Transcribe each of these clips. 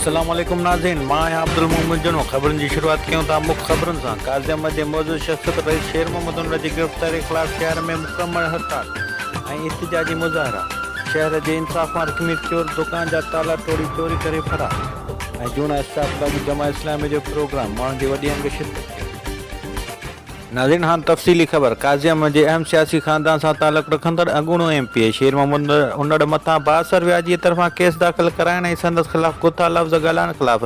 السلام عليڪم ناظرين مان آهيان عبدالمومن جنو خبرن جي شروعات ڪيون ٿا مک خبرن سان قاضيعمل جي معزز شخصيت رئيس شير محمد ان جي گرفتاري خلاف شهر ۾ مڪمل هڙتال ۽ احتجاجي مظاهرا شهر جي انصاف مان رڪني چور دڪان جا تالا ٽوڙي چوري ڪري فرار ۽ جوڻا اسٽاف لاڳو جماعت اسلامي جو پروگرام ماڻهن جي وڏي انگ شرڪت ڪئي ناظرين هاڻ تفصيلي خبر، قاضي احمد جي اهم سياسي خاندان سان تعلق رکندڙ اڳوڻو M P A Sher Muhammad Unar مٿان بااثر وياجي طرفان ڪيس داخل ڪرائڻ ۽ سندس خلاف ڪوتا لفظ ڳالهائڻ خلاف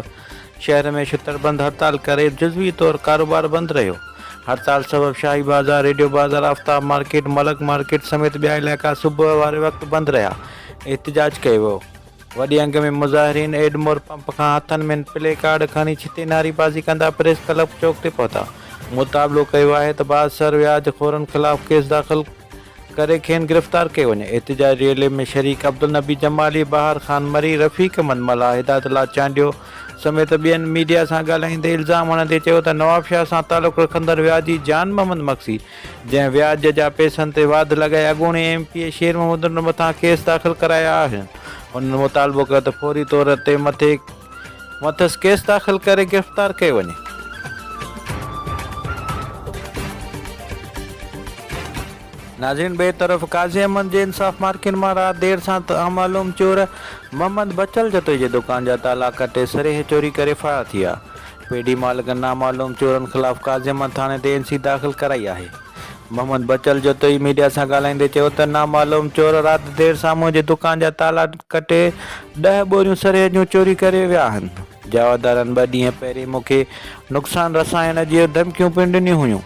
شهر ۾ شٽر بند هڙتال ڪري جزوي طور ڪاروبار بند رهيو. هڙتال سبب شاهي بازار، ريڊيو بازار، آفتاب مارڪيٽ، ملڪ مارڪيٽ سميت ٻيا علائقا صبح واري وقت بند رهيا ۽ احتجاج ڪيو ويو. وڏي انگ ۾ مظاهرين ايڊمور پمپ کان هٿن ۾ پلي ڪارڊ کڻي ڇتي نعري بازي ڪندا پريس ڪلب چوڪ تي پهتا مطالبو ڪيو آهي ته بااثر وياج خورن خلاف ڪيس داخل ڪري کين گرفتار ڪيو وڃي احتجاجي ريلي ۾ شريڪ عبدالنبي جمالي، بهار خان مري، رفيق من ملاح، هدايت الله چانڊيو سميت ٻين ميڊيا سان ڳالهائيندي الزام هڻندي چيو ته نوابشاهه سان تعلق رکندڙ وياجي جان محمد مگسي جنهن وياج جا پئسن تي واڌ لڳائي اڳوڻي M P A Sher Mahmood ننڊ مٿان ڪيس داخل ڪرايا آهن انهن مطالبو ڪيو ته فوري طور تي مٿي مٿس ڪيس داخل ڪري گرفتار ڪيو وڃي. ناظرين ٻئي طرف قاضي احمد جي انصاف مارڪيٽ مان رات دير سان نامعلوم چور محمد بچل جتوئي جي دڪان جا تالا ڪٽي سريهه چوري ڪري فرار ٿي ويا پيڊي مالڪن نامعلوم چورن خلاف قاضيامن ٿاڻي تي اين سي داخل ڪرائي آهي. محمد بچل جتوئي ميڊيا سان ڳالهائيندي چيو ته نامعلوم چور رات دير ساموء جي دڪان جا تالا ڪٽي ڏهه ٻوريون سريهه جون چوري ڪري ويا آهن. جاوهدارن ٻه ڏينهن پهرين مون کي نقصان رسائڻ جيون ڌمڪيون پڻ ڏنيون هيون،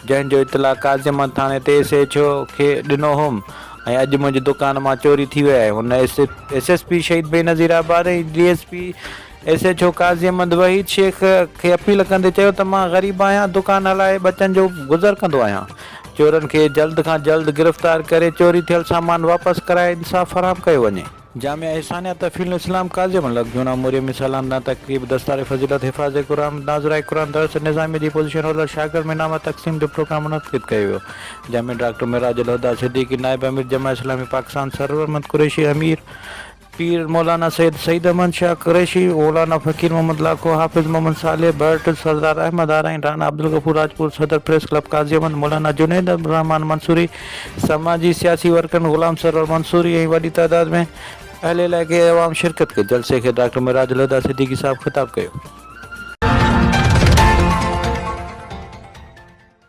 جنهن جو اطلاع قاضيامن ٿاڻي تي ايس ايڇ او کي ڏنو هوم ۽ اڄ منهنجي دڪان مان چوري ٿي وئي آهي. هن S S P Shaheed Benazirabad ۽ D S P S H O Qazi Ahmed Waheed Shaikh کي اپيل ڪندي چيو ته مان غريب آهيان دڪان هلائي ٻچن جو گذر ڪندو آهيان چورن کي جلد کان جلد گرفتار ڪري چوري ٿيل سامان واپس ڪرائي انصاف فراهم ڪيو وڃي. جامع احسانيه تفھيل الاسلام قاضي احمد لڪ جوڻا مريمي سالانه تقريب دستار فضيلت حفاظ قرآن ناظرائي قرآن درس نظاميه جي پوزيشن هولڊر شاگرد ۾ انعامات تقسيم جو پروگرام منعقد ڪيو ويو جنهن ۾ ڊاڪٽر معراج الهديٰ صديقي نائب امير جماعت اسلامي پاڪستان سرورمند قريشي امير پير مولانا سيد سعيد احمد شاهه قريشي، مولانا فقير محمد لاکو، حافظ محمد صالح ڀرٽ، سردار احمد آرائين، رانا عبدالغفور راڄپور، صدر پريس ڪلب قاضي احمد، مولانا جنيد الرحمان منصوري، سماجي سياسي ورڪرن غلام سرور منصوري ۽ وڏي تعداد ۾ اهل علائقي ۽ عوام شرڪت ڪئي. جلسي کي ڊاڪٽر معراج الهديٰ صديقي صاحب خطاب ڪيو.